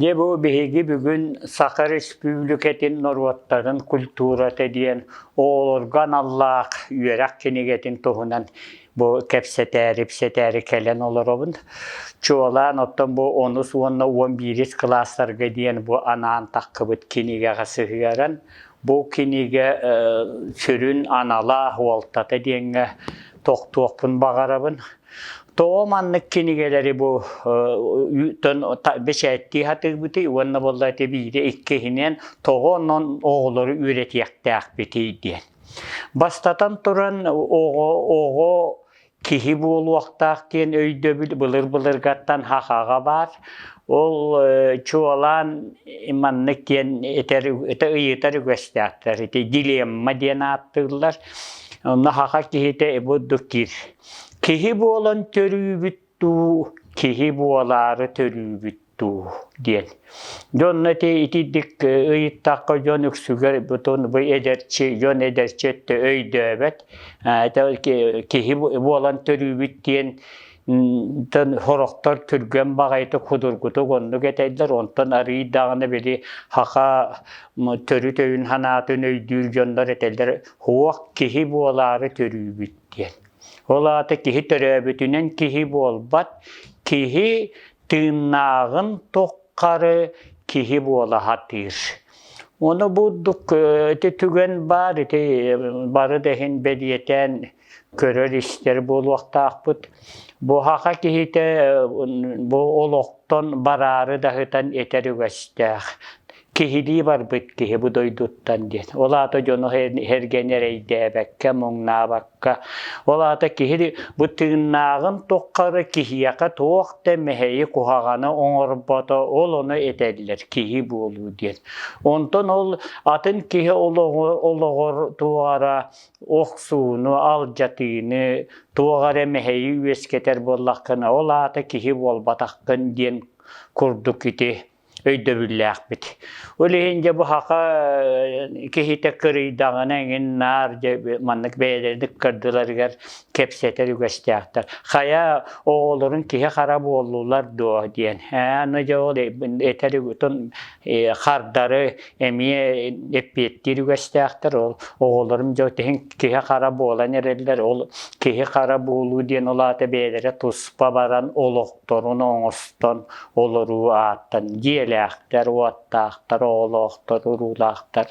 Дьэ бу биһиги бүгүн Саха Өрөспүүбүлүкэтин норуоттарын культурата диэн оҕолорго аналлаах үөрэх кинигэтин туһунан бу кэпсэтээри, ипсэтээри кэлэн олоробун. Чуолаан оттон бу онус уонна уон биирис кылаастарга диэн бу анаан таххыбыт кинигэҕэ сыһыаран, бу кинигэ э, сүрүн анала, уолтата диэҥҥэ тохтуохпун баҕарабын. Тоо маннык кинигэлэри бу үтөн бэчээттии хатыыбыты уонна буолла ити биири иккиһинэн тоҕо онон оҕолору үөрэтиэхтээхпитий диэн. Бастатан туран оҕо, оҕо киһи буолуохтаах диэн өйдөбүл былыр-былыргаттан хахаҕа баар. Ол чуолаан маннык диэн этэр, ыйытар үгэстээхтэр. Ити дилемма диэн ааттыыллар. Онно хаха киһитэ ибуддук киир. Киһи буолан төрүүбүт дуу, киһи буолаары төрүүбүт дуу диэн. Дьэ онно ити итиитик ыйыттахха дьон үксүгэр бутун бу эдэрчи, дьон эдэрчи өттө өйдөөбөт. Киһи буолан төрүүбүт диэн сорохтор түргэн баҕайытык худургутук оннук этэйдэр онтон арыый даҕаны били хаха төрүт өйүн санаатын өйдүүр дьоннор этэллэр уох киһи буолаары төрүүбүт диэн ол аата киһи төрөөбүтүнэн киһи буолбат киһи тыыннааҕын туххары киһи буола сатыыр ону бурдук ити түгэн баар ити бары да иһин бэлиэтээн көрөр-истэр буолуохтаахпыт. Буһаха киһитэ бу олохтон бараары даһытан этэр үгэстээх. Киһилии барбыт киһи бу дойдуттан диэн. Ол аата дьону эргэн эрэйдээбэккэ, муҥнаабакка. Ол аата киһи бу тыыннааҕын туххары киһиэхэ туох да мэһэйи куһаҕаны оҥорбото ол ону этэллэр киһи буолуу диэн. Онтон ол атын киһи олоҕор туора охсууну, алдьатыыны, туох эрэ мэһэйи үөскэтэр буоллаххына, ол аата киһи буолбатаххын диэн курдук ити өйдөбүллээхпит. Ол иһин дьэ бу хаха киһитэ кырыйдаҕына эҥин наар дьэ маннык бэйэлэрин кырдыларыгар кэпсэтэр үгэстээхтэр. Хайа оҕолорун киһи хара буоллулар дуо диэн. Аны дьэ ол этэр хардары эмиэ эппиэттиир үгэстээхтэр ол оҕолорум дьэ тиһин киһи хара буолан эрэллэр ол киһи хара буолуу диэн ол аата бэйэлэрэ туспа баран олохторун оҥостон олоруу ааттан дьиэлээхтэр уоттаахтар оҕолоохтор уруулаахтар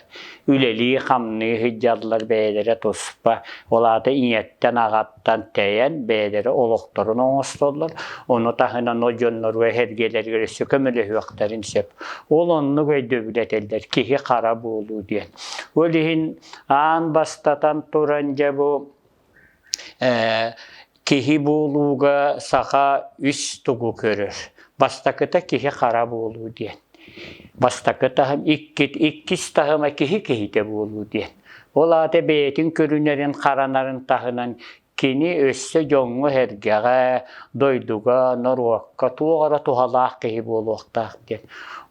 үлэлии хамныы сылдьаллар бэйэлэрэ туспа ол аата ийэттэн аҕаттан Тантэйэн бэйэлэрэ олохторун оҥостоллор, ону таһынан ол дьоннору эһэргэлэригэр өссө көмөлөһүөхтэрин сөп. Ол оннук өйдөбүл этэллэр киһи хара буолуу диэн. Ол иһин аан бастатан туран дьэ бу киһи буолууга саха үс тугу көрөр. Бастакыта киһи хара буолуу диэн. Бастакы таһым, иккис, иккис таһыма киһи киһитэ буолуу диэн. Ол аата бэйэтин көрүнэрин харанарын таһынан кини өссө дьоҥҥо-сэргэҕэ, дойдуга, норуокка туох эрэ туһалаах киһи буолуохтаах диэн.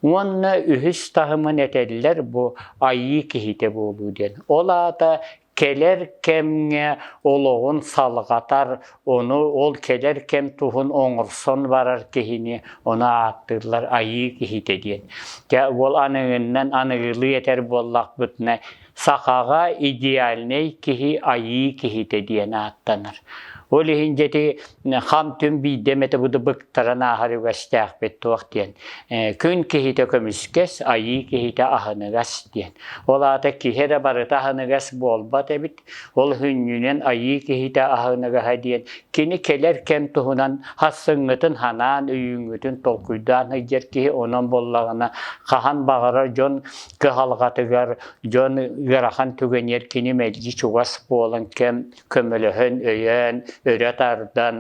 Уонна үһүс таһымын этэллэр бу айыы киһитэ буолуу диэн. Ол аата кэлэр кэмҥэ олоҕун салҕатар, Ону ол кэлэр кэм туһун оҥорсон барар киһини ону ааттыыллар айыы киһитэ диэн. Дьэ уол аныгыннан аныгылыы этэр буоллахпытына сахаҕа идеальнай киһи айыы киһитэ диэн ааттанар. Ол иһин дьэти хам-түм биирдэ эмэтэ буду быктаран ааһар үгэстээхпит туох диэн. Күн киһитэ көмүскэс, айыы киһитэ аһыныгас диэн. Ол аата киһи эрэ барыта аһыныгас буолбат эбит, Ол һүнньүнэн айыы киһитэ аһыныгаһа диэн кини кэлэр кэм туһунан хассыҥҥытын ханаан, өйүүҥҥүтүн толкуйдаан сылдьар киһи онон буоллаҕына хаһан баҕарар дьон кыһалҕатыгар дьон ыарахан түгэниэр кини мэлдьи чугас буолан кэм көмөлөһөн, өйөөн, өрө тардан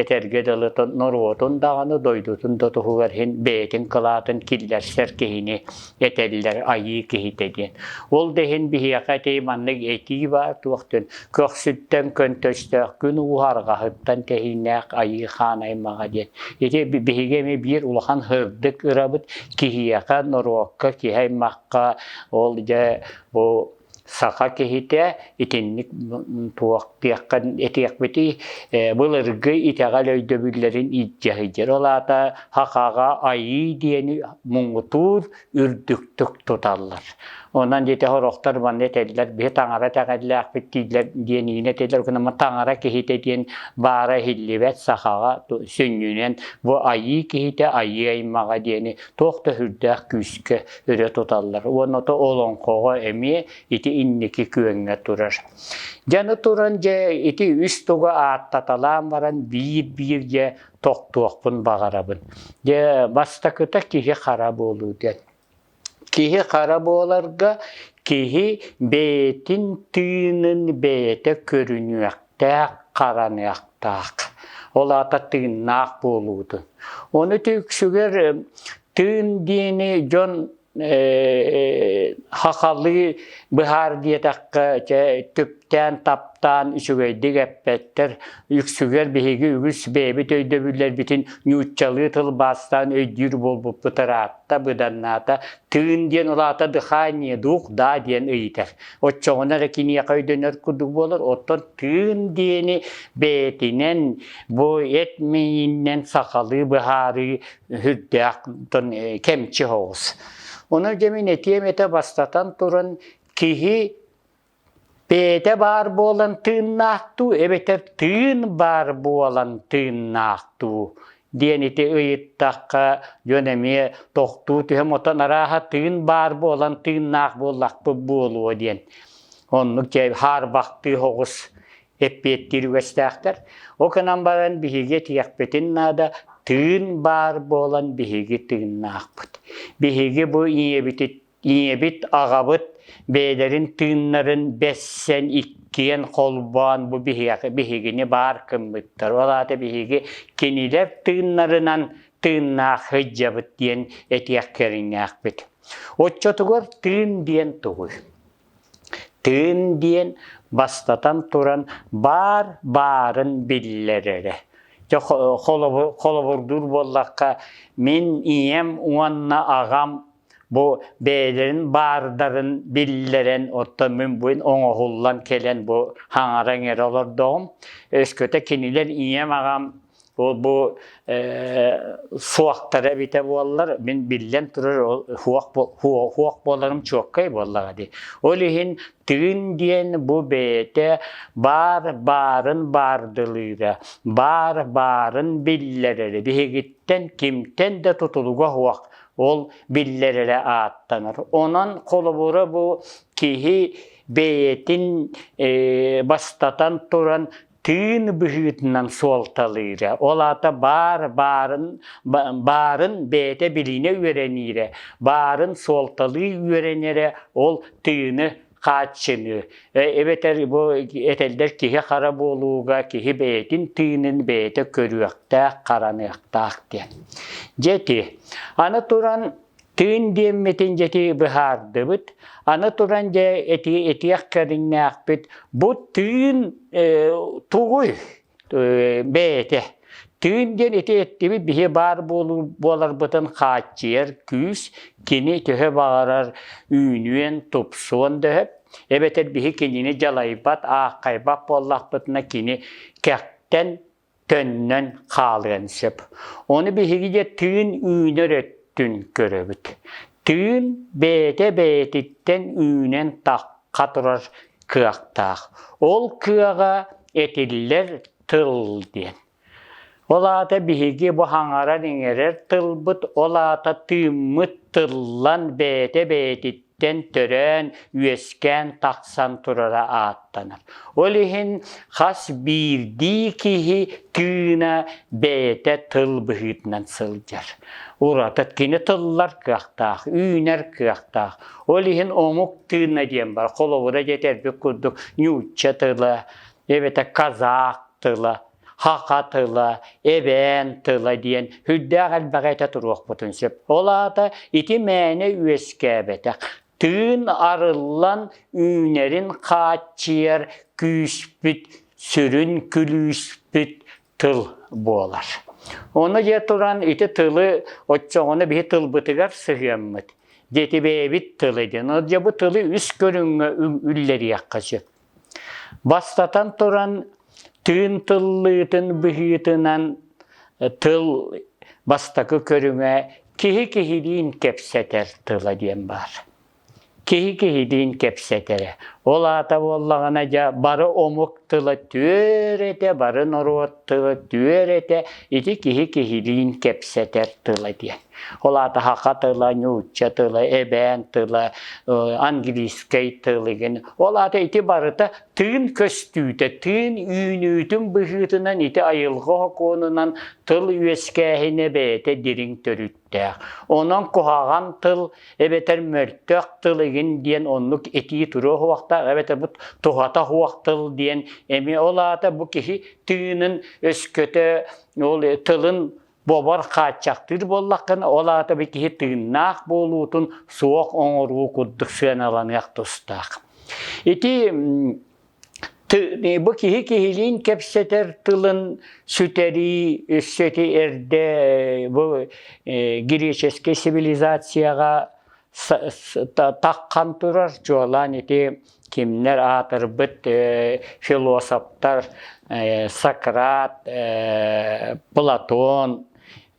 этэргэ дылы норуотун даҕаны дойдутун да туһугар иһин бэйэтин кылаатын киллэрсэр киһини этэллэр айыы киһитэ диэн. Ол да иһин биһиэхэ ити маннык этии баар туохтун көхсүттэн көнтөстөөх күн уу арҕаһыттан тэһиинээх айыы хаан аймаҕа диэн. Ити биһиги эмиэ биир улахан һырдык ырабыт киһиэхэ, норуокка, киһи аймахха ол дьэ бу саха киһитэ итинник туохтыахха этиэхпитий был ыргы итэҕэл өйдөбүллэрин илдьэ сылдьар ол аата хахаҕа айыы диэни муҥутуур үрдүктүк туталлар онон дьиэтэ сорохтор манна этэллэр биһи таҥара этэҕэллээхпит дииллэр диэн иһин этэллэр гынама таҥара киһитэ диэн баара иһиллибэт сахаҕа сүнньүнэн бу айыы киһитэ айыы аймаҕа диэни туох да сүрдээх күүскэ үрэ туталлар уонна ото олоҥхоҕо эмиэ ити инники күөҥҥэ турар дьаны туран дьэ ити үс туга ааттаталаан баран биир-биир дьэ тохтуохпун баҕарабын дьэ бастакыта киһи хара буолуу диэн киһи хара буоларга киһи бэйэтин тыынын бэйэтэ көрүнүөхтээх хараныахтаах ол аата тыыннаах буолуутун ону үксүгэр Тыын диэни дьон хахалыы быһаар диэтэххэ чэ түптээн-таптаан үчүгэйдик эппэттэр үксүгэр биһиги үгүс бэйэбит өйдөбүллэрбитин ньууччалыы тылбаастаан өйдүүр буолбуппут ыраатта быданнаата тыын диэн улаата дыхание дух да диэн ыйытар оччоҕуна эрэ киниэхэ өйдөнөр курдук буолар оттон тыын диэни бэйэтинэн бу эт миининэн сахалыы быһаарыы Үрдээх кэмчи оҕус. Ону дьэ мин этиэм этэ бастатан туран киһи бэйэтэ баар буолан тыыннаах дуу эбэтэр тыын баар буолан тыыннаах дуу диэн ити ыйыттахха дьон эмиэ тохтуу түһэн отон арааһа тыын баар буолан тыыннаах буоллахпыт буолуо диэн. Оннук дьэ хаарбахтыы оҕус эппиэттиир үгэстээхтэр. Ол гынан баран биһиги этиэхпитин наада, тыын баар буолан биһиги тыыннаахпыт. Биһиги бу ийэбит, ийэбит аҕабыт бэйэлэрин тыыннарын бэссэн иккиэн холбоон бу биһиги, биһигини баар гыммыттар. Ол аата биһиги кинилэр тыыннарынан тыыннаах сылдьабыт диэн этиэх кэриҥнээхпит. Оччотугар тыын диэн тугуй? Тыын диэн, бастатан туран, баар баарын биллэр эрэ. Дьэ, холобурдуур буоллахха, мин ийэм уонна аҕам бу бэйэлэрин баардарын биллэрэн, оттон мин бу оҥоһуллан кэлэн бу хаҥара иҥэрэ олордоҕум. Өскөтө кинилэр ийэм, аҕам бу суохтара эбитэ буоллар мин биллэн турар хуох буоларым чуоккай буоллаҕа дии ол иһин тыын диэн бу бэйэтэ баар баарын баардылыыра баар баарын биллэрэрэ биһигиттэн кимтэн да тутулуга хуох ол биллэрэрэ ааттанар онон холобура бу киһи бэйэтин бастатан туран тыын быһыытынан суолталыыра. Ол аата баар баарын, баарын бэйэтэ билиинэ үөрэниирэ, баарын суолталыы үөрэнэрэ ол тыыны хааччыныы. Эбэтэр бу этэллэр киһи хара буолууга киһи бэйэтин тыынын бэйэтэ көрүөхтээх, хараныахтаах диэн. Дьэ ити. Аны туран Түүн диэммитин дьэти быһаардыбыт, аны туран дьэ эти этиэх кэриҥнээхпит, бу тыын э, тугуй э, бэйэтэ. Түүн диэн ити эттибит биһи баар буоларбытын хааччыйар күүс, кини төһө баҕарар үүнүөн, тупсуон дөһөп, эбэтэр биһи кинини дьалайбат, ааххайбат буоллахпытына кини кэхтэн төннөн хаалыан сөп. Ону биһиги дьэ тыын үүнэр өттүн көрөбүт. Тыын бэйэтэ-бэйэтиттэн үүнэн тахха турар кыахтаах. Ол кыаҕа этиллэр тыл диэн. Ол аата биһиги бу хаҥаран иҥэрэр тылбыт, ол аата тыыммыт тыллан бэйэтэ-бэйэтиттэн иһиттэн төрөөн, үөскээн тахсан турара ааттанар. Ол иһин хас биирдии киһи тыына бэйэтэ тыл быһыытынан сылдьар. Ураты кини тыллар кыахтаах, үүнэр кыахтаах. Ол иһин омук тыына диэн бар. Холобура дэтэрбит курдук ньуучча тыла, эбэтэр казах тыла хаха тыла, эбээн тыла диэн үрдээх элбэҕи этэ туруохпутун сөп. Ол аата ити мээнэ үөскээбэтэх. Тыын арыллан үүнэрин хааччыйар күүспүт, сүрүн күлүүспүт тыл буолар. Ону дьэ туран ити тылы оччоҕуна биһи тылбытыгар сыһыаммыт. Дети бэйэбит тылы диэн. Ол дьэ бу тылы үс көрүҥҥэ үллэриэххэ сөп. Бастатан туран, тыын тыллыытын быһыытынан тыл бастакы көрүҥэ киһи киһилиин кэпсэтэр тыла диэн баар. Киһи киһилиин кэпсэтэрэ. Ол аата буоллаҕына дьэ бары омук тыла түөр этэ, бары норуот тыла түөр этэ. Ити киһи киһилиин кэпсэтэр тыла диэн. Ол аата хаха тыла, ньуучча тыла, эбээн тыла, английскай тылыгын. Ол аата ити барыта тыын көстүүтэ, тыын үүнүүтүн быһыытынан ити айылҕа окуонунан тыл үөскээһинэ бэйэтэ дириҥ төрүттээх. Онон куһаҕан тыл эбэтэр мөлтөх тыл игин диэн оннук этии туруох уохтаах эбэтэр бу туһата уох тыл диэн эми ол аата бу киһи тыынын өскөтө ол тылын Бобор хааччахтыыр буоллаххына, ол аата бу киһи тыыннаах буолуутун суох оҥоруу курдук сыаналаныах тустаах. Ити бу киһи киһилиин кэпсэтэр тылын сүтэрии өссөти эрдэ бу греческий цивилизацияҕа таххан турар, чуолаан ити Кимнэр аатырбыт э, философтар э, Сократ, э, Платон,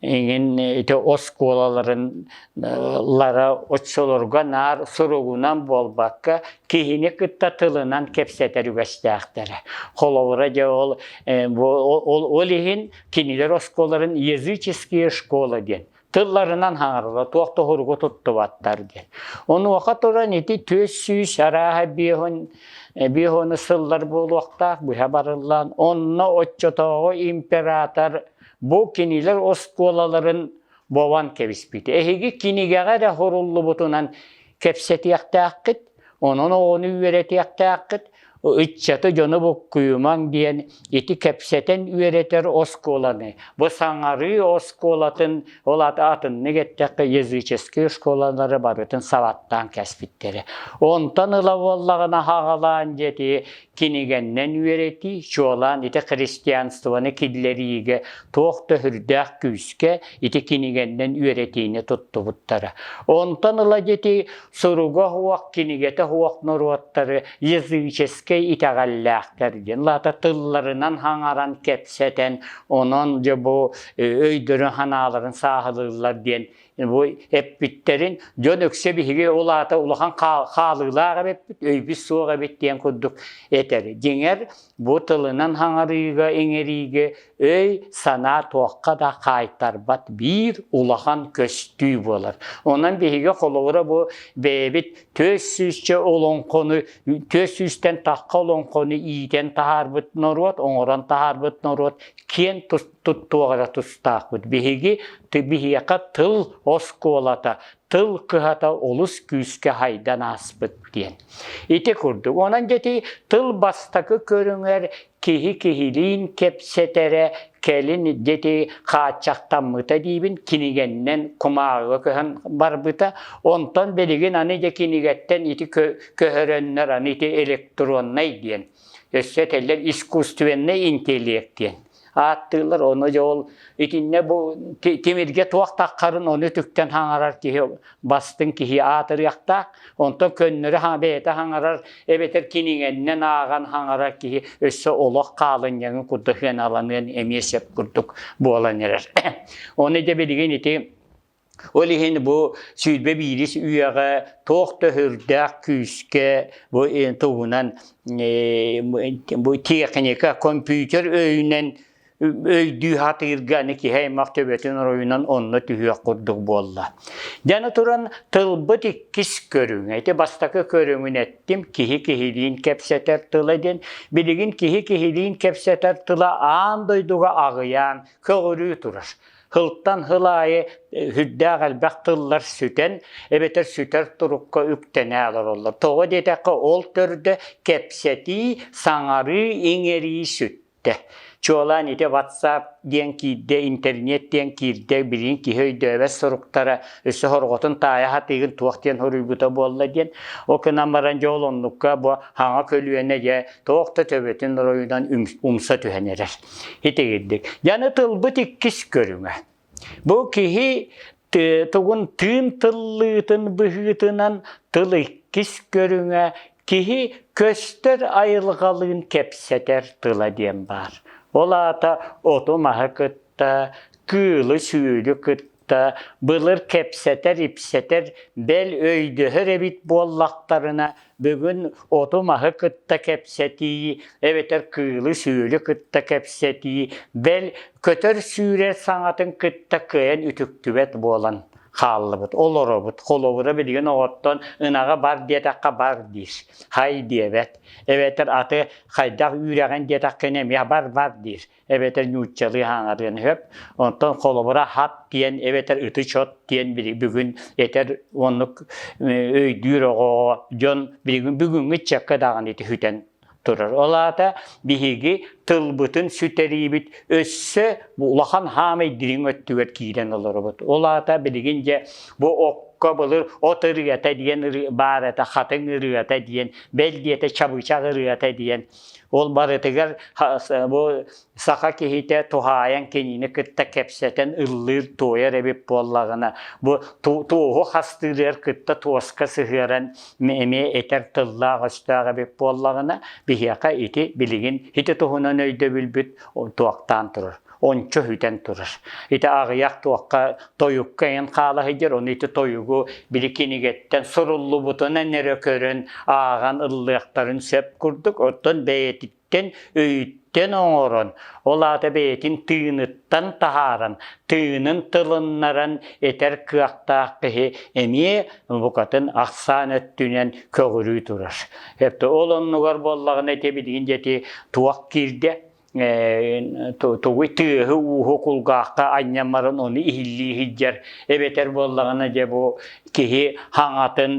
иҥин ити оскуолаларын лара оччолорго наар суругунан буолбакка киһини кытта тылынан кэпсэтэр үгэстээхтэрэ холобура дьэ ол ол иһин кинилэр оскуолаларын языческие школы диэн тылларынан хаҥарылла туох туһуругу туттубаттар диэн. Онуоха туран ити түөс сүүс арааһа биэһун биэһону сыллар буолуохтаах быһа барыллан онно оччотооҕу император бу кинилэр оскуолаларын бован кэбиспит. Эһиги кинигэҕэ эрэ хоруллубутунан кэпсэтиэхтээххит Онон оҕону үөрэтиэхтээххит, ыччаты дьону буккуйумаҥ диэн ити кэпсэтэн үөрэтэр оскуоланы, бу саҥарыы оскуолатын, ол атыннык эттэххэ языческие оскуолалары барытын сабаттаан кэспиттэрэ. Онтон ыла буоллаҕына аҕалаан дьэти кинигэннэн үөрэтии, чуолаан ити христианствоны киллэриигэ туох да сүрдээх күүскэ ити кинигэннэн үөрэтиини туттубуттара. Онтон ыла дьэти суруга уох, кинигэтэ уох норуоттары языческай итэҕэллээхтэр диэн лаата тылларынан хаҥаран кэпсэтэн онон дьэ бу өйдөрүн-санааларын сааһылыыллар диэн бу эппиттэрин дьон өксө биһиги ол аата улахан хаалыылаах эбиппит өйбүт суох эбит диэн курдук этэр дьиҥэр бу тылынан хаҥарыыга-иҥэриигэ өй-санаа туохха да хаайтарбат биир улахан көстүү буолар. Онон биһиги холобура бу бэйэбит түөрт сүүсчэ олоҥхону, түөрт сүүстэн тахха олоҥхону иитэн таһаарбыт норуот, оҥорон таһаарбыт норуот киэн туттуох эрэ тустаахпыт. Биһиги биһиэхэ тыл оскуолата, тыл кыһата олус күүскэ хайдан ааспыт диэн. Ити курдук. Онон дьэти тыл бастакы көрүҥэр киһи киһилиин кэпсэтэрэ кэлин дьэти хааччахтаммыта диибин кинигэннэн кумааҕыга көһөн барбыта. Онтон билигин аны дьэ кинигэттэн ити көһөрөннөр аны ити электроннай диэн. Өссө этэллэр искусственный интеллект диэн. ааттыыллар ону дьэ ол итиннэ бу тимиргэ туох таххарын ону үтүктэн хаҥарар киһи бастыҥ киһи аатырыахтаах онтон көннөрү бэйэтэ хаҥарар эбэтэр киниҥэннэн ааҕан хаҥарар киһи өссө олох хаалынньаҥын курдук һыаналаныан эмиэ сөп курдук буолан эрэр ону дьэ билигин ити Ол иһин бу сүүрбэ биирис үйэҕэ туох да һөрдөөх күүскэ бу тугунан бу техника, компьютер өйүнэн өйдүү сатыырга аны киһи аймах төбөтүн оройунан онно түһүөх курдук буолла. Дьаны туран тылбыт иккис көрүҥэ. Ити бастакы көрүҥүн эттим киһи киһилиин кэпсэтэр тыла диэн. Билигин киһи киһилиин кэпсэтэр тыла аан дойдуга аҕыйаан, көҕүрүү турар. Хылтан хыл аайы үрдээх элбэх тыллар сүтэн, эбэтэр сүтэр турукка үктэнэ олороллор. Тоҕо диэтэххэ, ол төрдө кэпсэтии, саҥарыы, иҥэрии сүттэ. Чуолаан ити WhatsApp диэн киирдэ, интернет диэн киирдэ, билигин киһи өйдөөбөт суруктара, өссө хорҕотун таайа хатыыгын туох диэн хоруйбута буолла диэн. Ол гынан баран дьэ ол оннукка бу хаҥа көлүөнэ дьэ туох да төбөтүн оройунан умса түһэн эрэр. итигирдик. Яны тылбыт иккис көрүҥэ. Бу киһи тугун тыын тыллыытын быһыытынан тыл иккис көрүҥэ киһи көстөр айылҕалыын кэпсэтэр тыла диэн баар. Ол аата оту маһы кытта, кыылы-сүөлү кытта, былыр кэпсэтэр-ипсэтэр бэл өйдөһөр эбит буоллахтарына бүгүн оту-маһы кытта кэпсэтии эбэтэр кыылы-сүөлү кытта кэпсэтии бэл көтөр сүүрэр саҥатын кытта кыайан үтүктүбэт буолан хааллыбыт олоробут холобура билигин оҕоттон ынаҕа бар диэтэххэ бар диир хай диэбэт эбэтэр аты хайдах үүрэҕин диэтэххэ эмиэ бар бар диир эбэтэр нууччалыы ааҥарыан сөп. Онтон холобура хап диэн эбэтэр ытычот диэн бүгүн этэр оннук өйдүүр оҕоҕо дьон бүгүҥҥү чекка даҕаны түһүтэн турар. Ол аата биһиги тылбытын сүтэриибит өссө улахан хаамай дириҥ өттүгэр киирэн олоробут. Ол аата билигин дьэ бу окко былыр от ырыата диэн баар этэ, хатыҥ ырыата диэн, бэл диэтэ чабычах ырыата диэн Ол барытыгар бу саха киһитэ туһаайан кинини кытта кэпсэтэн ыллыыр, туойар эбит буоллаҕына, бу туоһу хастыырыгар кытта туоска сыһыаран эмиэ этэр тыллаах-өстөөх эбит буоллаҕына, биһиэхэ ити билигин ити туһунан өйдөбүлбүт туохтаан турар. ончо хүтэн турар. Ити аҕыйах туохха тойукка эн хаалаһыйдыр, ону ити тойугу били кинигэттэн суруллубутунан эрэ көрөн ааҕан ыллыахтарын сөп курдук, оттон бэйэтиттэн өйүттэн оҥорон, ол аата бэйэтин тыыныттан таһааран, тыынын тылыннаран этэр кыахтаах киһи эмиэ букатын ахсаан өттүнэн көҕүрүү турар. Ол оннугар буоллаҕына ити билигин дети туох киирдэ? тугуй тыаһы ууһу кулгаахта анньаммарын ону иһиллии иһдьэр эбэтэр буоллаҕына дьэ бу киһи хаҥатын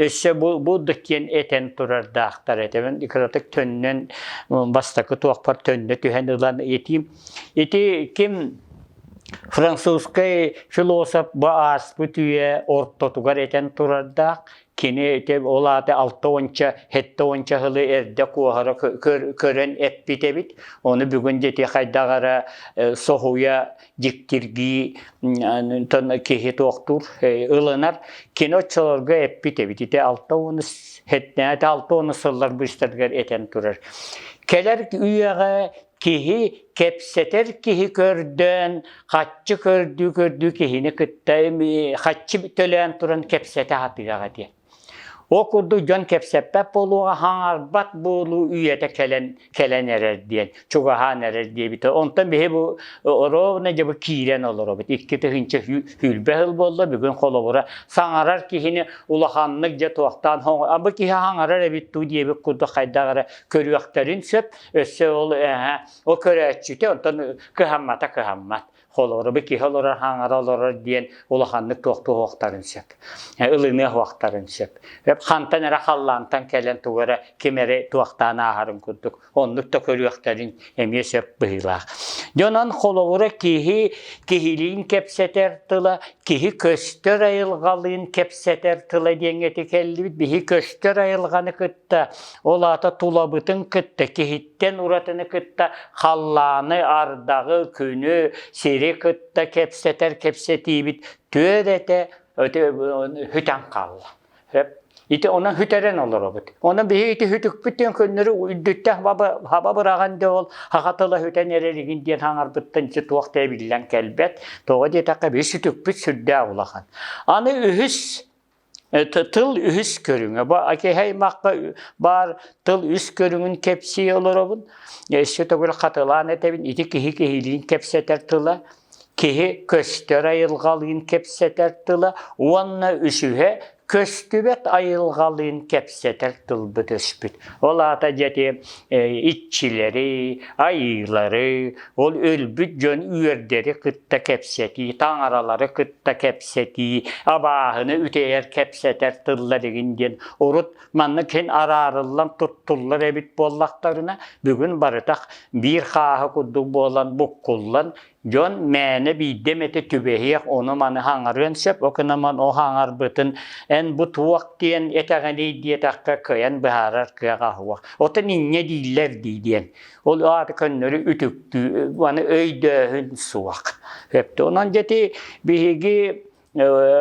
өссө бу бу да киэн этэн турардаахтар этэ кыратык төннөн бастакы туохпар төннө түһэн ылан итим ити ким французскай философ бу ааспыт үйэ ортотугар этэн турардаах Кини ити ол аата алта уонча, сэттэ уонча сылы эрдэ куоһара көрөн эппит эбит. Ону бүгүн дити хайдах эрэ соһуйа дьиктиргии киһи туохтуур ылынар. Кини оччолорго эппит эбит. Ити алта уон алта уон сыллар быстаргар этэн турар. Кэлэр үйэҕэ киһи кэпсэтэр киһи көрдөөн хаччы көрдүү көрдүү киһини кытта хаччы төлөөн туран кэпсэтэ сатыах этэ ол курдук дьон кэпсэппэт буолуоҕа хаҥарбат буолуу үйэтэ кэлэн кэлэн эрэр диэн чугаһаан эрэр диэбитэ онтон биһи бу оруобуна дьэ бу киирэн олоробут икки тыһыынча хүүлбэ хыл буолла бүгүн холобура саҥарар киһини улаханнык дьэ туохтаан бу киһи хаҥарар эбит дуу диэбит курдук хайдах эрэ көрүөхтэрин сөп Өссө ол эһэ ол көрөөччүтэ онтон кыһаммата кыһаммат. Холору бы киһи олорор хаҥара олорор диэн улаханнык туохтуохтарын сөп. Ылыныахтарын сөп. Хантан эрэ халлаантан кэлэн тугу эрэ ким эрэ туохтаан ааһарын курдук оннук да көрүөхтэрин эмиэ сөп быһыылаах. Дьонон холобура киһи киһилиин кэпсэтэр тыла, киһи көстөр айылҕалыын кэпсэтэр тыла диэҥҥэ тикэллибит. Биһи көстөр айылҕаны кытта Ол аата тулабытын кытта киһиттэн уратыны кытта халлааны, ардаҕы, күнү, сири кытта кэпсэтэр кэпсэтиибит түөрт этэ хүтэн хаалла. Ити оны хүтэрен олоробут. Оны биһи ити хүтүкпүттен күннөрү үрдүттэн хаба быраҕан да ол хахатыла хүтэн эреригин диэн хаңарбыттан чи туох да эбиллэн кэлбэт. Тоҕо диэтэххэ биһи сүтүкпүт сүрдээх улахан. Аны үһүс тыл үһүс көрүҥэ. Бу аймахка баар тыл үс көрүҥүн кэпсии олоробун. Өссө төгүл хатылаан этэбин. Ити киһи киһилиин кэпсэтэр тыла, киһи көстөр айылҕалыын кэпсэтэр тыла уонна үсүһэ көстүбэт айылҕалыын кэпсэтэр тылбыт өспүт. Ол аата дьэти иччилэри, айыылары, ол өлбүт дьон үөрдэри кытта кэпсэтии, таҥаралары кытта да кэпсэтии, абааһыны үтэйэр, кэпсэтэр тыллар игин диэн урут маннык һин араарыллан туттуллар эбит буоллахтарына, бүгүн барытах биир хааһы курдук буолан буккуллан, дьон мээнэ биирдэ эмэтэ түбэһиэх, ону маны хаҥарыан сөп, ол гынан о хаҥарбытын эн бу туох диэн этэҕиний диэтэххэ кыайан быһаарар кыаҕа уһуох. Отон инньэ дииллэр дии диэн. Ол аата көннөрү үтүктүү, аны өйдөөһүн суох. Онон дети биһиги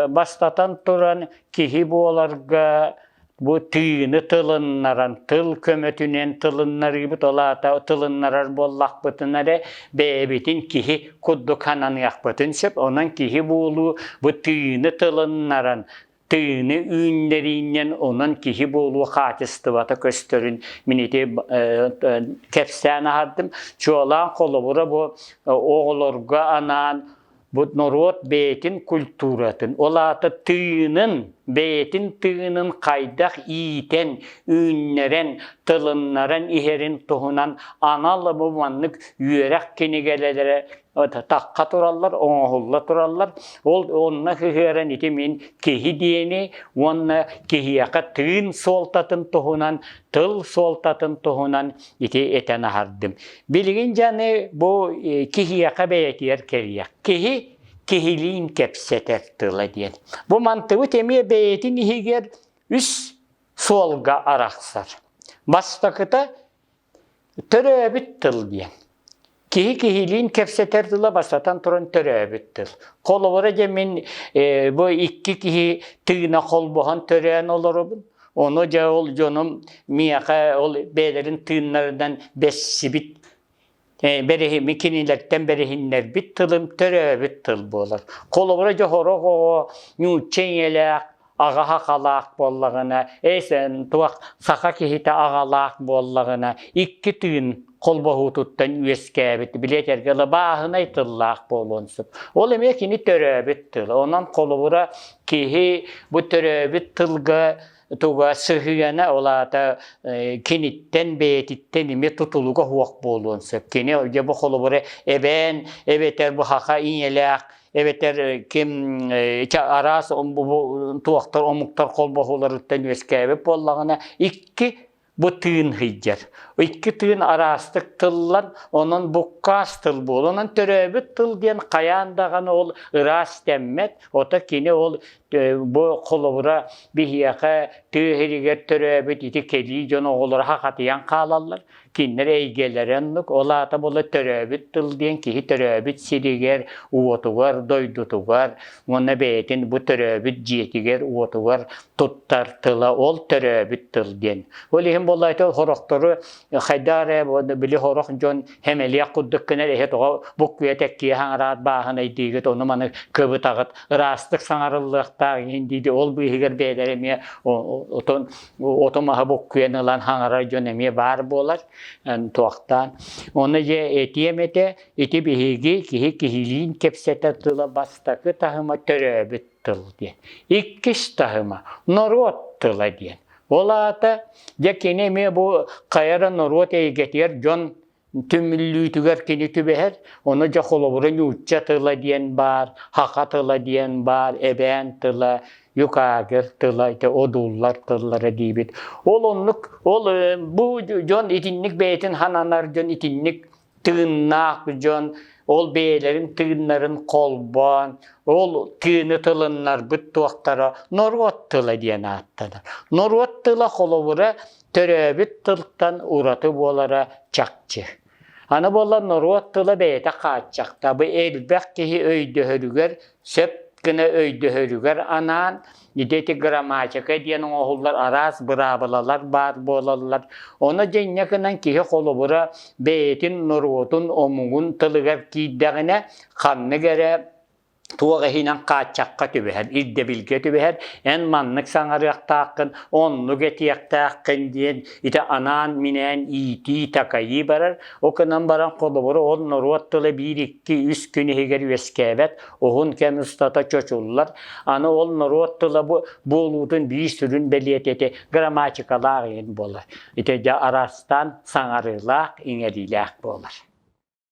бастатан туран киһи буоларга бу тыыны тылыннаран, тыл көмөтүнэн тылыннарыыбыт, ол аата тылыннарар буоллахпытына эрэ бэйэбитин киһи курдук хананыахпытын сөп. Онон киһи буолуу бу тыыны тылыннаран тыыны үүннэрииннэн онон киһи буолуу хаачыстыбата көстөрүн мин ити кэпсээн аһардым чуолаан холобура бу оҕолорго анаан бу норуот бэйэтин культуратын ол аата тыынын бэйэтин тыынын хайдах иитэн үүннэрэн тылыннаран иһэрин туһунан анал абы маннык үөрэх кинигэлэрэ такка тураллар, оҥоһулла тураллар. Ол онно сыһыаран ити мин киһи диэни уонна киһиэхэ тыын суолтатын туһунан, тыл суолтатын туһунан ити этэн аһардым. Билигин дьаны бу киһиэхэ бэйэтигэр кэлиэх. Киһи киһилиин кэпсэтэр тыла диэн. Бу мантыбыт эмиэ бэйэтин иһигэр үс суолга арахсар. Бастакыта Төрөөбүт тыл диэн. Киһи киһилиин кэпсэтэр тыла бастатан туран төрөөбүт тыл. Холобура дьэ мин э, бу икки киһи тыына холбоһон төрөөн олоробун. Ону дьэ ол дьонум миэхэ ол бэйэлэрин тыыннарынан бэссибит э, бэриһин, кинилэртэн бэриһиннэрбит тылым төрөөбүт тыл буолар. Холобура дьэ сорох оҕо нуучча ийэлээх аҕаһа халаах буоллаҕына эс туох саха киһитэ аҕалаах буоллаҕына икки тыын холбоһуутуттан үөскээбит билиэтэргэ ыла бааһынай тыллаах буолуон сөп ол эмиэ кини төрөөбүт тыла онон холобура киһи бу төрөөбүт тылга туга сыһыана ол аата киниттэн бэйэтиттэн эмиэ тутулуга суох буолуон сөп кини дьэ бу холобура эбээн эбэтэр бу саха ийэлээх эбэтэр ким араас туохтар омуктар холбоһууларыттан үөскээбит буоллаҕына икки бу тыын сыйдьар. Икки тыын араастык тыллан, онон буккаас тыл буол. Онон төрөөбүт тыл диэн хайаан даҕаны ол ыраас тэммэт, ото кини ол бу холобура биһиэхэ тыа сиригэр төрөөбүт ити кэлии дьон оҕолоро хахатыйан хаалаллар. кинилэр эйгэлэрэ оннук, ол аата була төрөөбүт тыл диэн киһи төрөөбүт сиригэр, уотугар, дойдутугар уонна бэйэтин бу төрөөбүт дьиэтигэр, уотугар туттар тыла ол төрөөбүт тыл диэн. Ол иһин буоллаайта хорохтору хайдаа эрэ били хорох дьон хэмэлиэх курдук гынар эһэ тоҕо буккуйа тэккиэ хаҥараат бааһынайдыыгыт ону маны кыбытаҕыт ыраастык саҥарыллыахтаах иһин дииди ол быыһыгар бэйэлэрэ эмиэ отон Ото маһы буккуйан ылан хаҥарар дьон эмиэ баар буолар туохтаан. Оны же этиэм этэ, ити биһиги киһи киһилиин кэпсэтэр тыла бастакы таһыма төрөөбүт тыл диэн. Иккис таһыма норуот тыла диэн. Ол аата дьэ кини эмиэ бу хайара норуот эйгэтигэр дьон түмүллүүтүгэр кини түбэһэр, ону дьэ холобура нуучча тыла диэн баар, хаха тыла диэн баар, эбээн тыла, юкагер тыла, ити одууллар тыллара диибит. Ол оннук, ол бу дьон итинник бэйэтин хананар дьон итинник тыыннаах дьон, ол бэйэлэрин тыыннарын холбоон, ол тыыны тылыннарбыт туохтара норуот тыла диэн ааттанар. Норуот тыла холобура төрөөбүт тылтан ураты буолара чахчы. Аны буолан норуот тыла бэйэтэ хааччахтабы элбэх киһи өйдөһөрүгэр сөп гына өйдөһөрүгэр анаан ити ити грамматика диэн оҥоһуллар араас быраабылалар баар буолаллар ону дьиҥҥэ гынан киһи холобура бэйэтин норуотун омугун тылыгар киирдэҕинэ ханнык эрэ туох иһинэн хааччахха түбэһэр, ирдэбилгэ түбэһэр, эн маннык саҥарыахтааххын, оннук этиэхтээххин диэн ити анаан-минээн иитии-такайыы барар. Ол гынан баран холобур, ол норуот тыла биир, икки, үс күн иһигэр үөскээбэт, уһун кэм устата чочуллар. Аны ол норуот тыла бу буолуутун биир сүрүн бэлиэтэтэ грамматикалаах иһин буолар. Ити дьэ араастаан саҥарыылаах, иҥэриилээх буолар.